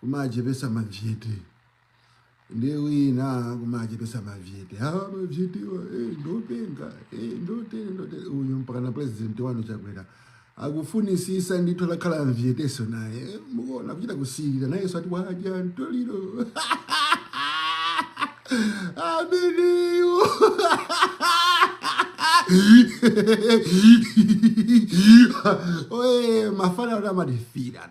kumachepesa mavyete ndi wina kumachepesa mavyete awa mavyetewa eh, ndopenga eh, ndotene ndotene uyu mpakana president wanu chakwera akufunisisa ndithu atakhala mvyeteso naye eh, mumuona kuchita kusilira nayeso ati wadya mtoliro ameneyo oye mafana anamadifira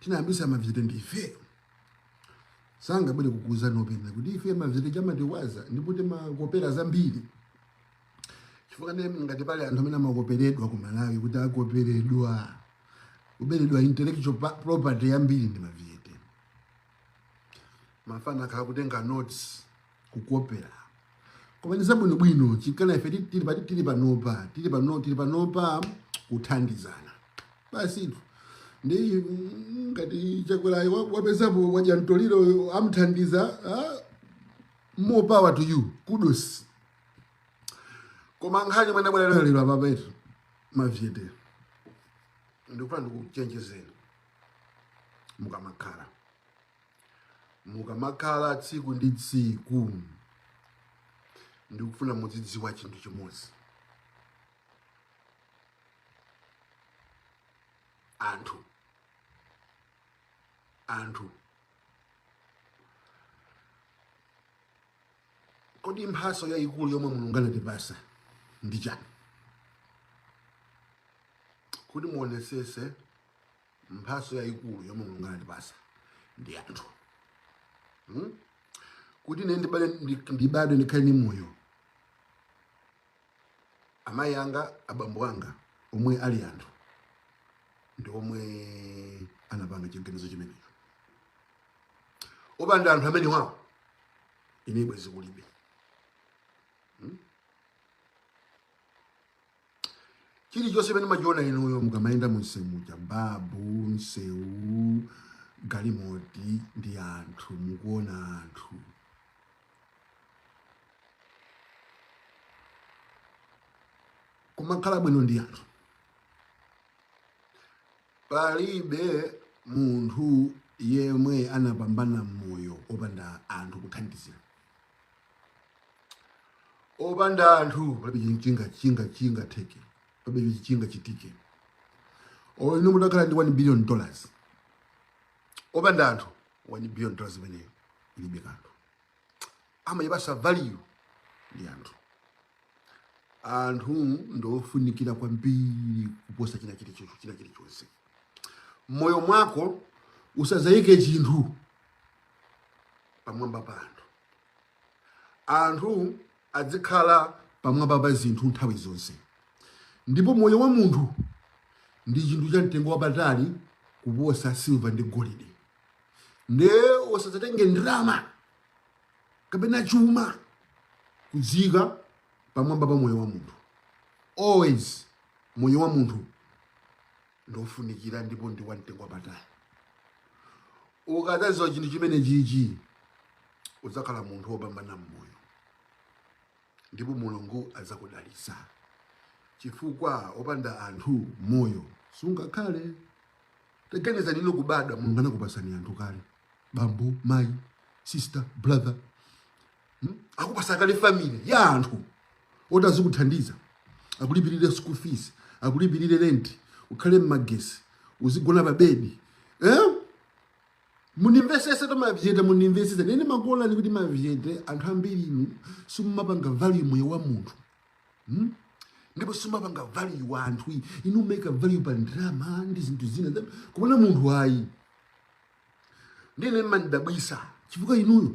tinayambisa mavyete ndife sangabwere kukuuzani openga kuti ife mavyete chimatiwaza ndipo timakopera zambiri chifukwa ngati pali anthu amene amakoperedwa ku malawi kuti akoperedwa kuberedwa intellectual property yambiri ndi mavyete mafana akhala kutenga notes kukopera koma ndi zabwinobwino chinkana ife tili panopa tili panopa kuthandizana basitu ndi mm, ngati chakwerayo wa- wapezapo wadya mtoliro amthandiza ah, more power to you kudos koma nkhani mwana bwana lero apapa etu mavyete ndikufuna ndikuchenjezeni mukamakhala mukamakhala tsiku ndi tsiku ndikufuna mudzidziwa chinthu chimodzi anthu anthu kodi mphaso yayikulu yomwe mulungu anatipasa ndi chani kuti muonesese mphaso yayikulu yomwe mulungu anatipasa ndi anthu hmm? kuti ine ndibadwe ndikhale ndi moyo amayi anga abambo anga omwe ali anthu ndi omwe anapanga chiganizo chimenecho opanda anthu amenewawo ine bwezi kulibe hmm? chilichonse chimene mumachiona inuyo mukamayenda munsewu muja babu nsewu galimoti ndi anthu mukuona anthu kumakhala bwino ndi anthu palibe munthu yemwe anapambana mmoyo opanda anthu kuthandizira opanda anthu palibe chi chinga chingatheke palibe chi chingachitike olo inu mutakhala ndi 1 billion dollars opanda anthu 1 billion dollars imene ilibe kanthu amayipasa value ndi anthu anthu ndofunikira kwambiri kuposa china chilichonse china chilichonse mmoyo mwako usazayike chinthu pamwamba pa anthu Anthu adzikhala pamwamba pa zinthu nthawi zonse, ndipo moyo wa munthu ndi chinthu cha mtengo wapatali kuposa silva ndi golide. Nde osadzatenge ndalama kapena chuma kudziika pamwamba pa moyo wa munthu. Always moyo wa munthu ndofunikira ndipo ndi wa mtengo wapatali. Ukadzadziwa chinthu chimenechichi udzakhala munthu wopambana m'moyo ndipo Mulungu adzakudalitsa, chifukwa opanda anthu moyo sungakhale. Taganizani inu kubadwa, Mulungu anakupatsani anthu kale, bambo, mayi, sister, brother, hmm? akupatsa kale family ya anthu oti azikuthandiza akulipirire school fees akulipirire rent ukhale mmagesi uzigona pa bedi eh? munimvesese tomavyete munimvesese nene makolani kuti mavyete anthu ambiri inu simumapanga value moyo wa munthu hmm? ndipo simumapanga value wa anthu inu make value pa ndrama ndi zinthu zina kumana munthu ayi ndiye mmandidabwisa chifukwa inuyo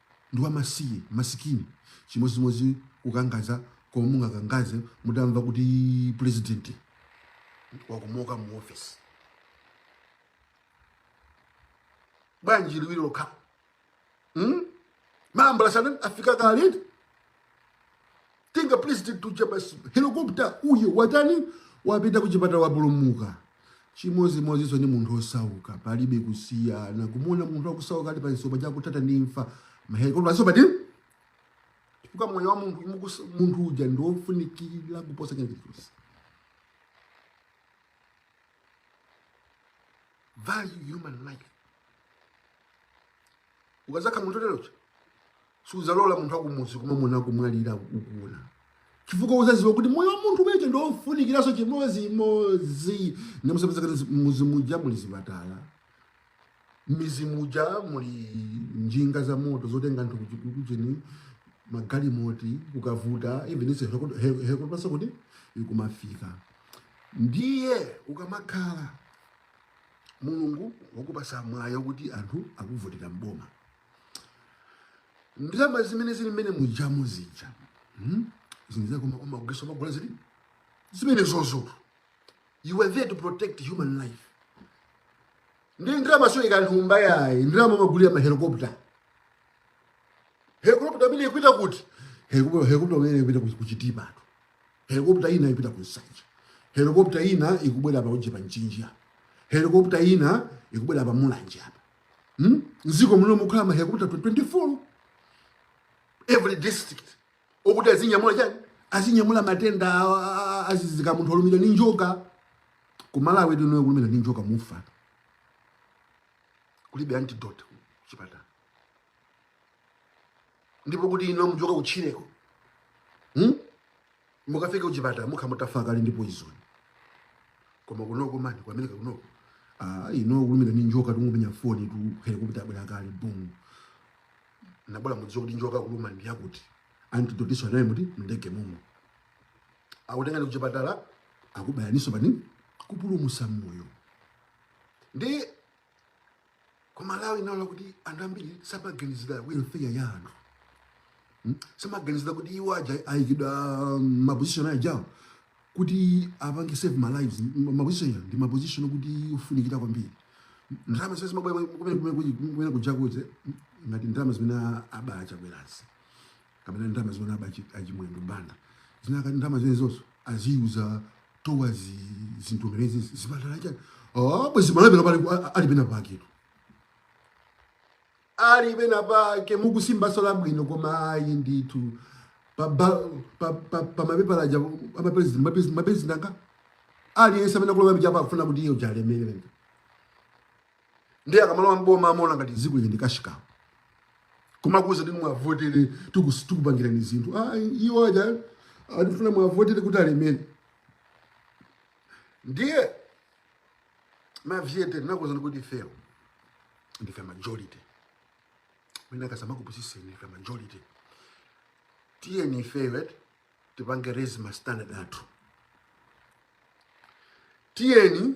ndi wa masi, masikini, chimodzimodzi kukangaza komwe mungakangaze mutamva kuti pulezidenti wakomoka mu office bwanji liwiro lake hmm? maambulasi anafika kale eti Tenga president uja basi helicopter uyo watani wapita kuchipatala wapulumuka. Chimodzimodzinso ndi munthu osauka, palibe kusiyana. Kumuona munthu akusauka ali pamsuwachi akuthatha ndi imfa, mahelikopta asowa ndi chifukwa moyo wa munthu mukusa- munthu uja ndi wofunikira kuposa china chilichonse. Value human life. Ukazakhala munthu oterocho sudzalola munthu akumudzi kuona munthu akumwalira ukuona chifukwa uzaziwa kuti moyo wa munthu uja ndi wofunikiranso chimodzimodzi ndiye muzapeza kuti mmidzi muja muli zipatala m'mizi muja muli njinga za moto zotenga anthu kuchikukucheni magalimoti kukavuta even ise helikoputanso kuti ikumafika ndiye ukamakhala mulungu wakupasa mwayi oti anthu akuvotera mboma ndalama zimene zili mmene mujamu zija hmm? zimene kuma kuma kugesa magula zili zimene zozo you were there to protect human life ndi ndalama sizoika mthumba yayi ndalama magulira ma helicopter helicopter imene ikuita kuti helicopter helicopter imene ikuita ku- ku Chitipa tu helicopter ina ikuita ku nsanje helicopter ina ikubwera pa uje pa Mchinji apa helicopter ina ikubwera pa mulanje apa hmm? mziko muno mukhala ma helicopter 24 every district okuti azinyamula chani azinyamula matenda adzidzidzi ngati munthu olumidwa ndi njoka kumalawi inuyo kulumidwa ndi njoka mufa kulibe antidote chipatala ndipo kuti inu muchoke kutchireko hmm? mukafike kuchipatala mukhala mutafa kale ndi poison koma kunoko mani kwa America kunoko ah inu kulumidwa ni njoka tungumenya foni tu helicopter yabwera kale boom nabola mudziwa kuti njoka yakulumani ndi yakuti antidote-nso anayo muti mndege mumo akutengani kuchipatala akubayaniso pa nini kupulumusa moyo ndi ku Malawi inaona kuti anthu ambiri samaganizira welfare ya anthu Hmm? samaganizira kuti iwo aja ayikidwa maposition ajawo kuti apange save ma lives Ma- maposition aja ndi maposition okuti ofunikira kwambiri ndalama zimene zimabwera kumene kumene kuja kuja ngati ndalama zimene aba a Chakwerazi kapena ndalama zimene aba achimwendo banda zinakakhala ndalama zimenezozo aziuza towards zinthu zimenezi zipatala chani oh, bwezi malawi pano pali- ali pena paketu ali pena pake mukusimbaso labwino koma ayi ndithu pa ba- pa- pa- pa mapepala aja amapresident mapresident anga aliyense amene akulowa muja apa akufuna kuti iwo aja alemere ndiye akamalowa mboma amaona ngati dziko ili ndi cash cow kumakuza kuti mwavotere tikupangirani zinthu ah, iwo aja akufuna mwavotere kuti alemere ndiye mavyete ndakuuzani kuti ifeyo ndife majority wina asamakupusiseni ndife majority tiyeni ifeyo eti tipange raise ma standard athu tiyeni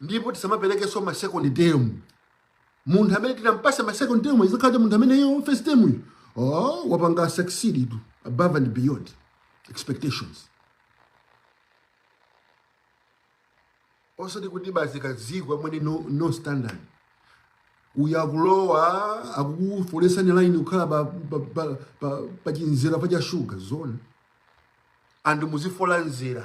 ndipo tisamapelekenso ma second term munthu amene tizampase ma second term azakhale munthu amene iye first term uyu oh wapanga succeed tu above and beyond expectations osati kuti basi kazigwamwene no, no standard uyu akulowa akukufolesani line kukhala pa, pa, pa, pa, pa chinzira pa cha shuga zona anthu muzifola mzere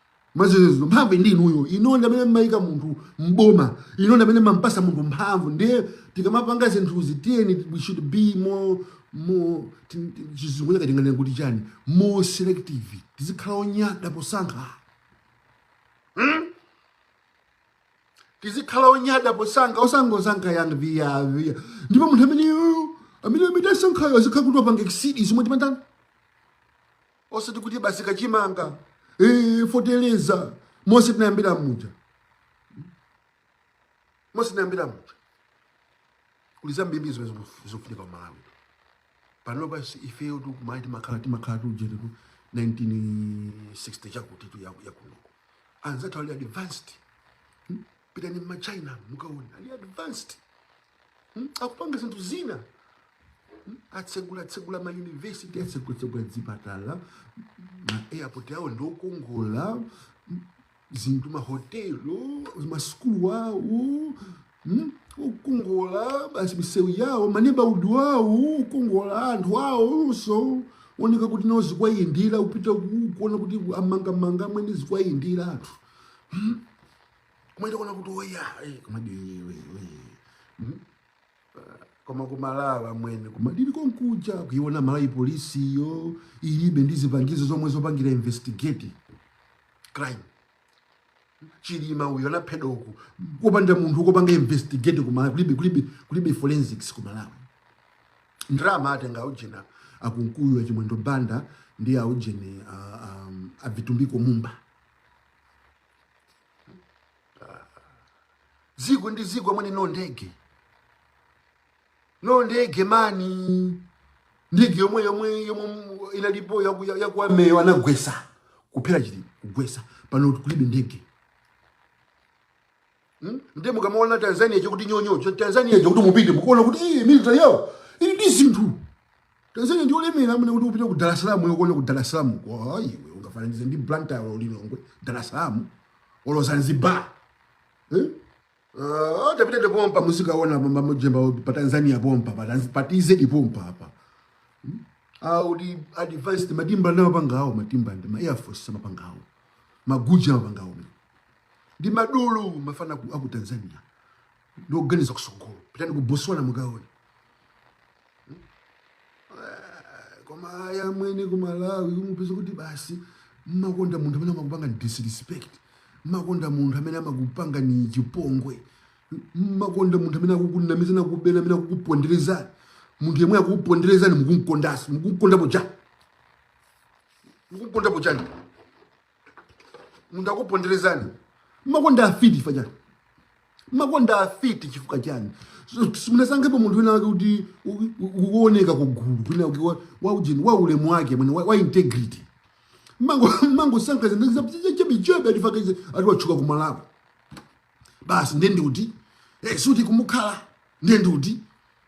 Maziko, mphamvu ndi inuyo, inuyo ndi amene mmayika munthu m'boma, inuyo ndi amene mmampasa munthu mphamvu. Ndiye tikamapanga zinthuzi tiyeni we should be more more tin- tin- chichewa chake tinganene kuti chani more selective tizikhala onyada posankha tizikhala onyada posankha osangosankha yang viya viya ndipo munthu ameneyo amene amene asankhayo azikhala kuti wapanga exceed zomwe timandana osati kuti basi kachimanga eh, feteleza mose tinayambira muja mose tinayambira muja kuli zambiri zimene zikufu- zikufunika kumalawi pano basi ifeyo tikumati timakhala timakhala tili ujenitu 1960 chakuti tu yaku- yakunoku anzathu ali advanced pitani ma China mukaone ali advanced hmm? akupanga zinthu zina hmm? atsegula tsegula ma university atsegula tsegula dzipatala ma airport awo ndi okongola hmm? zinthu ma hotelo ma school wawo hmm? okongola basi misewu yawo ma neighbourhood awo okongola anthu awonso ooneka kuti nawo zikuwayendera upita kuona kuti amangamanga amwene zikuwayendera anthu hmm? mwene kuona kuti oya eh, koma diwe hmm? koma kumalawi amwene koma ndili konkuja kuiona malawi polisiyo ilibe ndi zipangizo zomwe zopangira investigate crime chilimayo anaphedwa uku kopanda munthu kopanga investigate kumalawi kulibe kulibe kulibe forensics kumalawi ndrama atenga aujeni akunkuyu achimwendo banda ndi aujeni avitumbiko mumba dziko ndi dziko amwene no ndege no ndege mani ndege yomwe yomwe yomwe inalipo yaku army-yo anagwesa kuphera chili- kugwesa pano kulibe ndege Hmm? Nde mukamaona Tanzania chakuti nyonyo, cha Tanzania chakuti mupite mukuona kuti eh military yao ili ndi zinthu. Tanzania ndi olemera amwene kuti upite ku Dar es Salaam yo kuona ku Dar es Salaam. Kwa iwe ungafananize ndi Blantyre olo Lilongwe, Dar es Salaam olo Zanzibar. Eh? Uh, tapitani pompa muzikaona mamujemba pa Tanzania pompa pa Tanz- pa TZ pompa apa. Ali advanced matimba nawo pangawo matimba ndi ma Air Force mapangawo. Maguja mapangawo. ndi madolo mafana aku aku tanzania ndi oganiza kusogolo pitani ku botswana mukaone koma aya amwene ku malawi umapeza kuti basi mmakonda munthu amene amakupangani disrespect mmakonda munthu amene amakupangani chipongwe mmakonda munthu amene akukunamizani akukuberani amene akukuponderezani munthu yemwe akukuponderezani mukumkondasi mukumkondapo chani mukumkondapo chani munthu akuponderezani makonda afiti chifukwa chani mumakonda afiti chifukwa chani simunasankhepo munthu wina wake kuti akuoneka kugulu kwina waujeni wa ulemu wake mwene wa, wa integrity mmango mmangosankha zinthu zachabe chabe ati chifukwa izi ati watchuka kumalawi basi ndiye ndiuti eh sikuti kumukhala ndiye ndiuti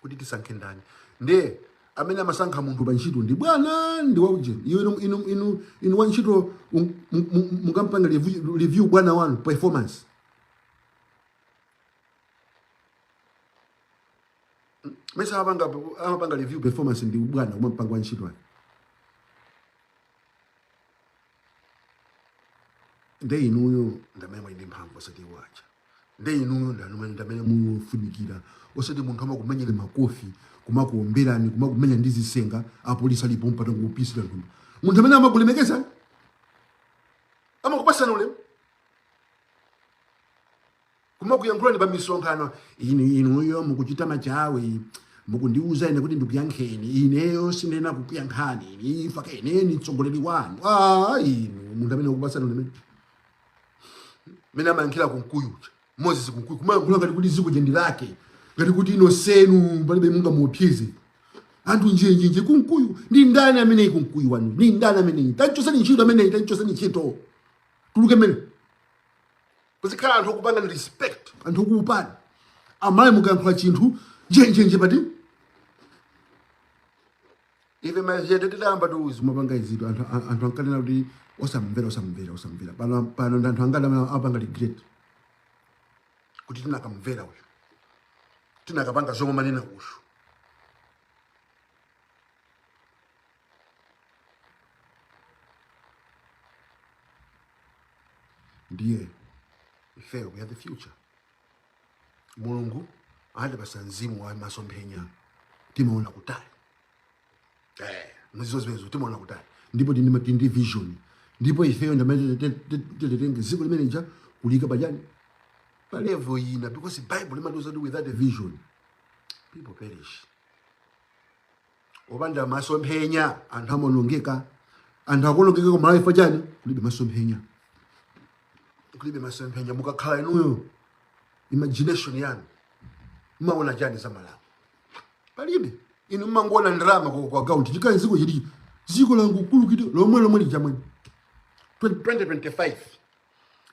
kuti tisankhe ndani ndiye amene amasankha munthu pa ntchito ndi bwana ndi waujeni iyo inu, inu, inu, inu wa ntchito mungampange review, review bwana wanu performance mesa amene amapanga review performance ndi bwana kumampanga wa ntchito ake nde inuyo ndamene muli ndi mphamvu osati iwo aja nde inuyo ndamene mufunikira osati munthu amakumenyani makofi kumakuomberani kumakumenya ndi zisenga apolisi alipo mpaka kupisira mthumba munthu amene amakulemekeza amakupasani ulemu kumakuyankhulani pa misonkhano inu inuyo mukuchita machawi mukundiuza ine kuti ndikuyankheni ineyo sindinena kukuyankhani ine chifukwa ine ndi mtsogoleri wanu a inu munthu amene akupasani ulemu mmene amayankhira kunkuyu uja moses kunkuyu kumayankhula ngati kuti ziko lija ndi lake ngati kuti inu nonsenu palibe mungamuopsyeze anthu njenjenje kunkuyu ndi ndani ameneyi kunkuyu wanu ndi ndani ameneyi tamchosani ntchito ameneyi tamchosani ntchito atuluke amene kuzikhala anthu okupangani respect anthu okuopani amayi mukayankhula chinthu njenjenje paja ife machende tidayamba tikuzimapanga izitu anthu a- anthu ankanena kuti osamvera osamvera osamvera pano pano ndi anthu angati amene apanga regret kuti tinakamvera uyu tinakapanga zomwe manena uyu ndiye ifeyo we are the future mulungu anatipasa mzimu wa masomphenya timaona kutali eh, muzizizwa zimenezo timaona kutali ndipo tindi tindi vision ndipo ifeyo ndamene titetenge ziko limene lija kuliika pachani pa level ina because bible limatiuza kuti without a vision people perish opanda masomphenya anthu amaonongeka anthu akuonongeka ku malawi chifukwa chani kulibe masomphenya kulibe masomphenya mukakhala inuyo imagination yanu mmaona chani za malawi palibe inu mmangoona ndalama kwa kwa account chikhala ziko chili ziko langu kulu kito lomwe lomwe lija mwene 2025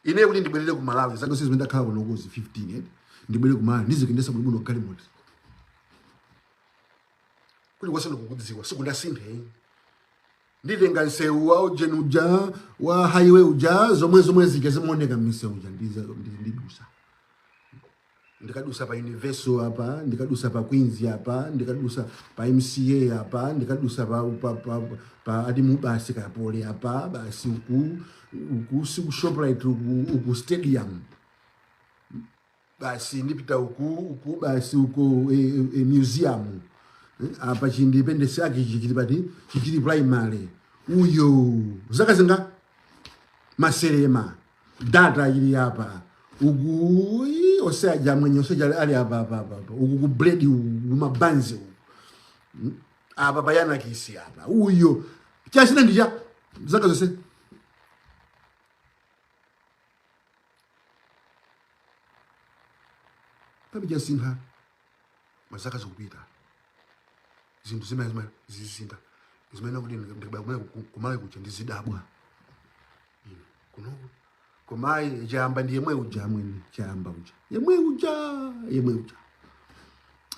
ine kuti ndibwerere ku malawi zaka zimene ndakhala kuno kuzi 15 eh ndibwerere ku malawi ndizikendesa bwino bwino galimoto kulikonse ndikukudziwa sikunasinthe nditenga nsewu wa ujeni uja wa highway uja zomwe zomwe zija zimaoneka mmisewu uja ndiza- ndi- ndidusa ndikadusa pa universal apa ndikadusa pa queens apa ndikadusa pa mca apa ndikadusa pa, pa, pa, pa ati mubasi ka poly apa basi uku uku si ku shoprite uku, uku stadium basi ndipita uku uku basi uku e, e, museum Eh, apa chi independence yake ichi chili pati chichili primary uyo zaka zinga maserema data ili apa uku ii, ose aja mwenye ose aja ali apa apa apa apa. uku ku bread uku mabanzi uku apa bayana kisi apa uyo chasina ndija zaka zose palibe chasintha mazaka zikupita zinthu zimene zimene zizisintha zimene kuti ndikabaya kumene ku- kumalawi kuja ndizidabwa Ine, kunoku koma ayi chayamba ndi yemwe uja amwene chayamba uja yemwe uja yemwe uja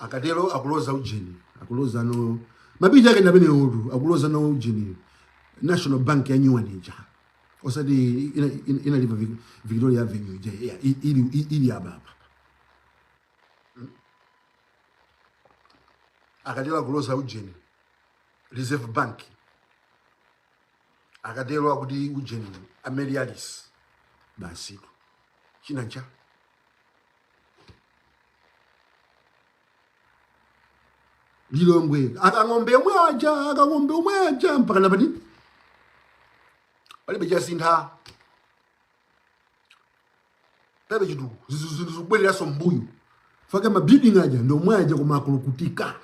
akatero akuloza ujeni akuloza no mabinja ake ndamene utu akuloza no ujeni national bank ya new one ija osati ina- ina- inali pa Vic- victoria avenue ija ya- i- ili i- ili ababa akatero kulosa ujeni reserve bank akatero akuti ujeni amelialis basitu chinancha lilongwe akang'ombe omwe aja akang'ombe omwe aja mpaka napati palibe chasintha palibe chinthu zinthu zikubwereranso mbuyo faka mabuilding aja ndi omwe aja koma akulukutika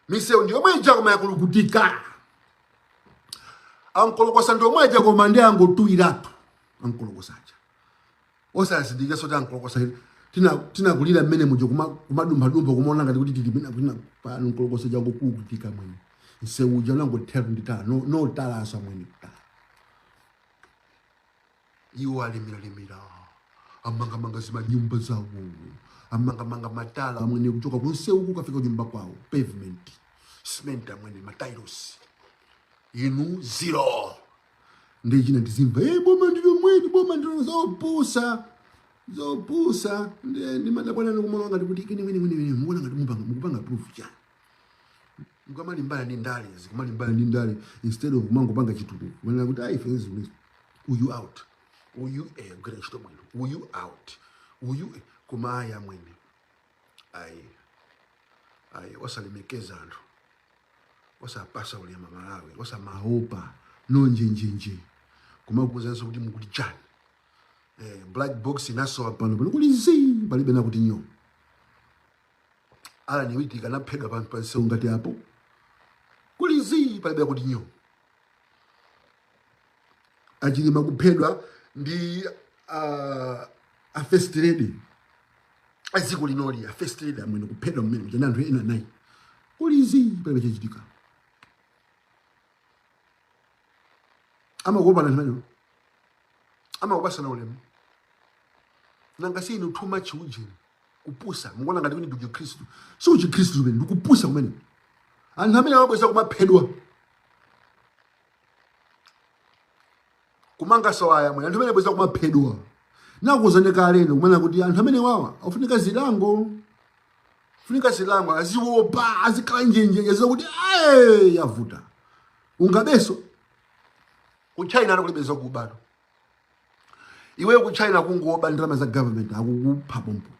misewu ndi omwe ija koma akulukutika ankolokosa ndi omwe aja koma nde angotuwiratu ankolokosa aja osazindikiranso tankolokosa tina tinakulira mmene muja kuma kumadumphadumpha kumaona ngati kuti tili pena kwina pano nkolokosa changokukutika mwene nsewu uja unangothera ndi tala no, no talanso amwene tala iwo alemeralemera amangamanga zimanyumba zawo amangamanga matala amwene kuchoka kunsewu kukafika kunyumba kwawo pavement cement amwene matailosi inu zero ndi china tizimva hey, eh, boma ndi lomweli boma ndilo zopusa zopusa ndimadabwa nanu ndikumaona ngati kuti kini wini wini wini muona ngati mupanga mukupanga prove chani mukamalimbana ndi ndale zikamalimbana ndi ndale instead of kumangopanga chitukuko manena kuti ayi fenzi ulizo uyu out uyu eh agwire ntchito bwino uyu out uyu eh, koma aya mwene ayi ayi osalemekeza anthu osapasa ulemu amalawi osamaopa nonjenjenje kumakuuzanso kuti mukuti chani eh, black box inasowa pano pano kuli zii palibe nakuti nyo allan witika anaphedwa pano pansewu ngati apo kuli zii palibe akuti nyo achilima kuphedwa ndi uh, a first lady a dziko linoli a first lady amwene kuphedwa mmene kuja ndi anthu ena nayi kuli izi palibe chachitika amakopana nthawi ino amakupasana ulemu nanga si inu too much ujeni kupusa mukuona ngati kuti ndi uchikhristu si uchikhristu umenewo ndikupusa kumene anthu amene amabweza kumaphedwa kumangaso ayi amwene anthu amene abweza kumaphedwa nakuzanena kaleno kumanena kuti anthu amene wawa afunika zilango afunika zilango aziwopa azikhala njenjenje aziziwa kuti "Aye, yavuta ungabeso ku china kulibe zakubatu iweyo ku china kungoba ndalama za government akukupha pompo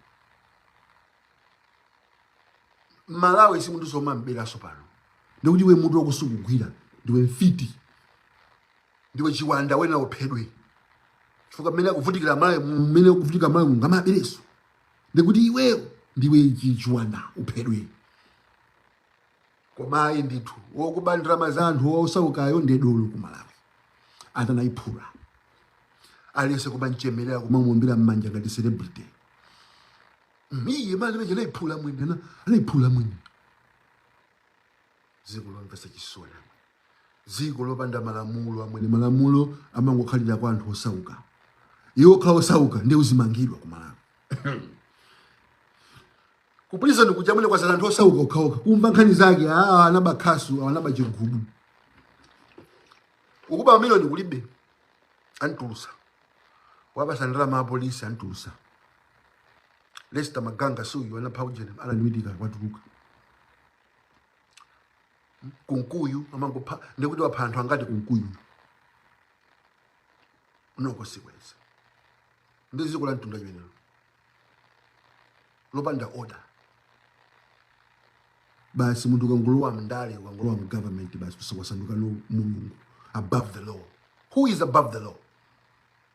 malawi si munthu womamberanso pano ndikuti iwe mutu wako sukugwira ndiwe mfiti ndiwe chiwanda wena uphedwe chifukwa mmene akuvutikira malawi mmene akuvutika malawi mungamabereso ndikuti iwe ndiwe chiwanda uphedwe koma ndithu wokuba ndalama za anthu osaukayo ndi dolo ku malawi ati anayiphula aliyense kumanchemerera kumamuombera mmanja ngati celebrity Iye mmalo mwake anaiphula amwene ana anaiphula mwini. Dziko lomvetsa chisoni amwene. Dziko lopanda malamulo amwene malamulo amangokhalira kwa anthu osauka. Iwe wokhala osauka nde uzimangidwa ku Malawi. Kupolisi ndi kuja amwene kwa anthu osauka okhaokha. Kumva nkhani zake wanaba khasu wanaba chigubu. Ukaba mamilioni kulibe antulusa. Wabasa ndalama apolisi antulusa. lester maganga si uyu anapha ujeni anadziwika kuti watuluka kunkuyu amangopha ndikuti wapha anthu angati kunkuyu unoko sikweza ndi dziko la mtundu wanji limenelo lopanda order basi munthu ukangolowa mndale ukangolowa mgovernment basi ukusandukano mulungu above the law who is above the law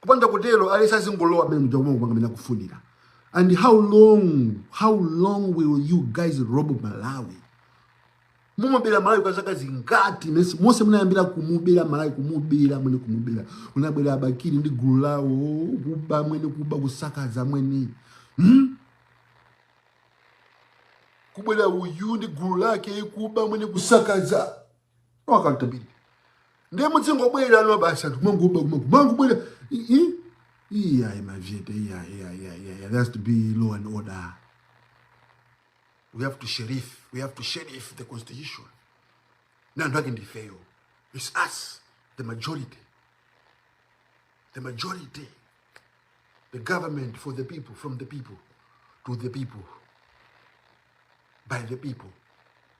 kupanda kutero aliyense azingolowa amene muja kumwe kumwe amene akufunira and how long how long will you guys rob malawi mumubera malawi kwa zaka zingati mesi monse munayambira kumubera malawi kumubera mwene kumubera munabwera abakiri ndi gulu lawo kuba mwene kuba kusakaza mwene hmm? kubwera uyu ndi gulu lake kuba mwene kusakaza no accountability ndiye mudzingobwera no basi anthu mangoba kumango mangobwera iyayi mavyete iyayi iyayi iyayi iyayi there has to be law and order we have to sheriff we have to sheriff the constitution na anthu ake ndifeyo it's us the majority the majority the government for the people from the people to the people by the people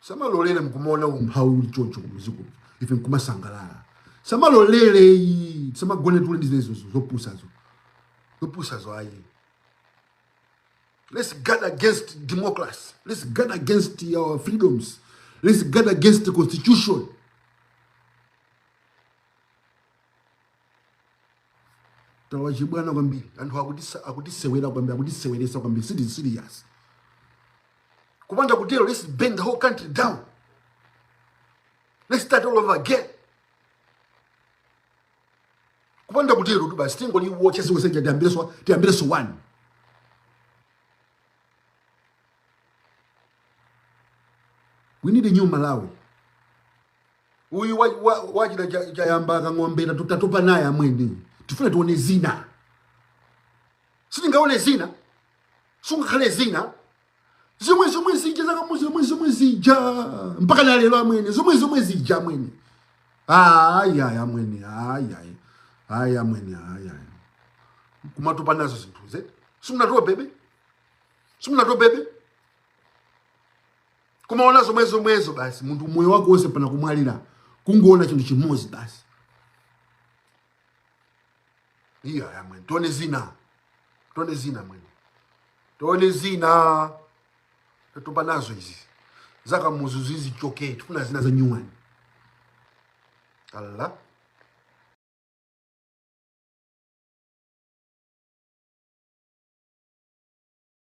tisamalolere mkumaona umphawi uli choncho kumuzi kuno ife mkumasangalala tisamalolere ayi tisamagone tule ndi zimenezo zopusazo zopusazo ayi let's guard against democracy let's guard against our freedoms let's guard against the constitution tawachibwana kwambiri anthu akutisewera kwambiri akutiseweresa kwambiri sitili serious kupanda kutero let's burn the whole country down let's start all over again kupanda kutero tu basi tingoliwotcha siku seja tiyambireso tiyambireso one we need a new malawi uyu wa- wa- wachita cha- chayamba akang'ombera tu- tatopa naye amwene tifuna tione zina sitingaone zina sungakhale zina zomwe zomwe zija zakamuzu zomwe zomwe zija mpaka na lero amwene zomwe zomwe zija amwene ayi ayi amwene ayi ayi ayi amwene ayi ayi kumatopa nazo zinthuze simunatopebe simunatopebe kumaona zomwe zomwezo basi munthu moyo wako wonse mpaka kumwalira kungoona chinthu chimodzi basi iya ya mwene tione zina tione zina mwene tione zina tatopa nazo izi zakamuzu zizichoke tifuna zina za nyuwani alla